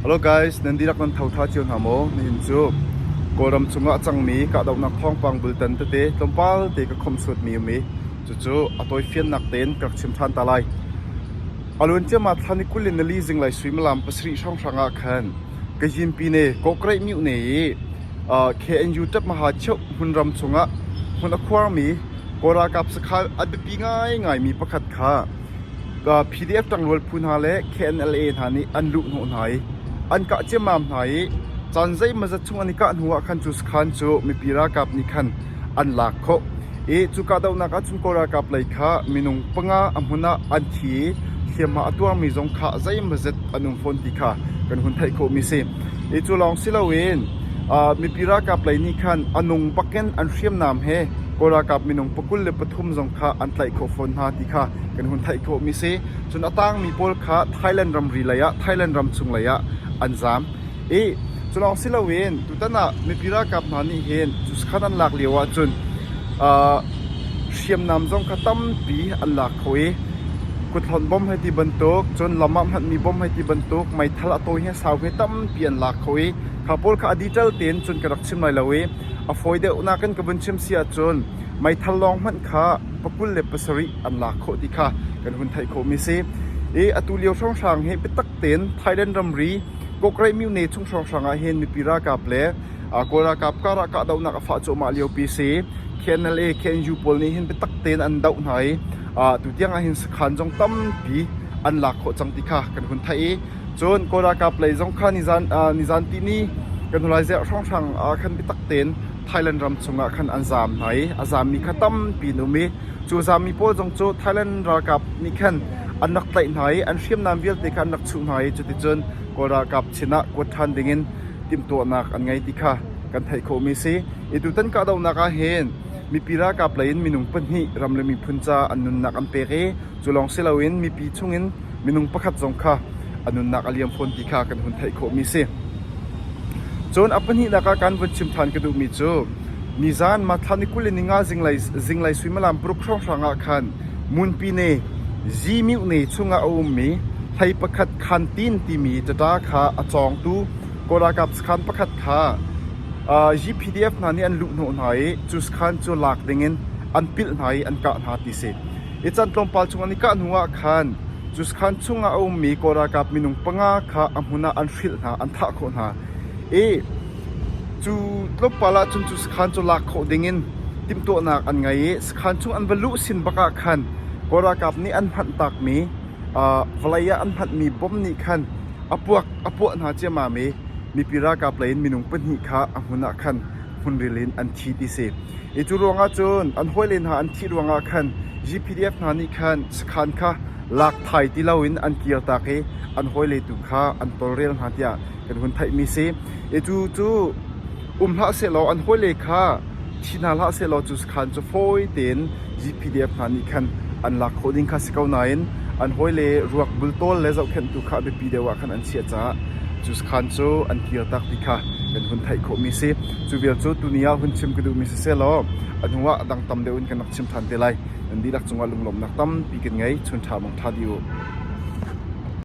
Hello guys, nan dihlak nan thotha cio hna maw? Nihin cu Kawlram chungah a cangmi kahdohnak thawngpang bultan tete tlawmpal te ka khawmh suatmi um i cucu a tawifiannak tein ka rak chim ṭhan ta lai. A luan ciahmah thlan i kul in nali zinglei suimilam pasarih hrawnghrang ah khan Kazhinpine kawkreih mihne i uh, KNU ṭapmaha cheuh hmunram chungah hmun a khuarmi Kawl ralkap sakha a biapi ngaingaimi pakhat kha PDF ṭangrual phu hna le KNLA hna nih an luh hnawh hna i an kah ciammam hna i caan zeimawzat chung an i kah hnuah khan cu sakhan cu mipi ralkap nih khan an lak khawh i cu kahdohnak ahcun Kawl ralkap lei kha minung panga a hmun ah an thi i hliamhma a tuangmi zong kha zeimawzat an um fawn ti kha kan hun theih khawhmi a si. Hi cu lawng si loin mipi ralkap lei nih khan a nung bakin an hriamnam he Kawl ralkap minung pakul le pathum zong kha an tlaih khawh fawn hna ti kha kan hun theih khawhmi si. Cun a tangmi pawl kha Thailand ramri lei ah Thailand ram chung lei ah an zaam i culawng si loin tutan ah mipi ralkap hna nih hin Cuskhan an lak lio ahcun uh, hriamnam zong kha tampi an lak kho i kuthlon bom hai ti bantuk cun lam ah hmanmi bom hai ti bantuk meithal a tawi he sau he tampi an lak kho i kha pawl kha a dital tein cun ka rak chim lai lo i a fawi deuhnak in ka vun chim si ahcun meithal lawng hmanh kha pakul le pasarih an lak khawh ti kha kan hun theih khawhmi a si. I atu lio hrawnghrang hi biatak tein Thailand ramri Kokreimyone chung hrawnghrang ah hin mipi ralkap le Kawl ralkap karah kahdohnak a fah cuahmah liopi si. KNLA, KNU pawl nih hin biatak tein an doh hna i tu tiang ah hin sakhan zong tampi an lak khawh cang ti kha kan hun theih i cun Kawl ralkap lei zong kha nizan nizan tini kan hun lai ziah hrawnghrang khan biatak tein Thailand ram chungah khan an zaam hna i a zaammi kha tampi an um i cu zaammi pawl zong cu Thailand ralkap nih khan an rak tlaih hna i an hriamnam vialte kha an rak chuh hna i cuticun Kawl ralkap sinah kuat ṭhan dingin timhtuahnak an ngei ti kha kan theih khawhmi a si. I tutan kahdohnak ah hin mipi ralkap lei in minung pahnih ram le miphun ca an nunnak an pek i Cu lawng si loin mipi chungin minung pakhat zong kha a nunnak a liam fawn ti kha kan hun theih khawhmi si. Cun a pahnihnak ah kan vun chim ṭhan ka duhmi cu nizan Mathlan i kul in ninga zinglei, zinglei suimilam paruk hrawnghrang ah khan Munpi ne, Zimih ne chungah a ummi hlei pakhat Khantin timi ṭaṭa kha a cawngtu Kawlralkap sakhan pakhat kha uh, GPDF hna nih an luh hnawh hna i cu sakhan cu lak dingin an pilh hna i an kah hna ti si. I can tlawmpal chung an i kah hnuah khan Cuskhan chungah a ummi kawl ralkap minung panga kha a hmun ah an hrilh hna, an thah khawh hna i cu tlawmpal ah cun cu sakhan cu lak khawh dingin timhtuahnak an ngei i sakhan chung an va luh sin bakah khan kawl ralkap nih an hmanh takmi vawlei ah an hmanhmi bom nih khan a puak a puah hna ciammam i mipi ralkap lei in minung pahnih kha a hmun ah khan hmunril in an thi ti si. Hi cu ruangah cun an hawile hna an thih ruangah khan GPDF hna nih khan sakhan kha lak thai ti loin an kir tak i an hawile tu kha an tawlrel hna tiah kan hun theihmi si. Hi cu cu um hlah sehlaw an hawile kha thi hna hlah sehlaw cu sakhan cu fawi tein GPDF hna nih khan an lak khawh ding kha si ko nain an hawile ruak bultawl le zohkhenhtu kha a biapi deuh ah khan an chiah caah cu khan cu an kir tak ti kha kan hun theih khawhmi a si cu vial cu tuni ah hun chim ka duhmi si selaw a hnu ah dang tam deuh in kan rak chim ṭhan te lai nan dihlak cungah lunglawmhnak tampi kan ngei chun ṭha mong ṭha di u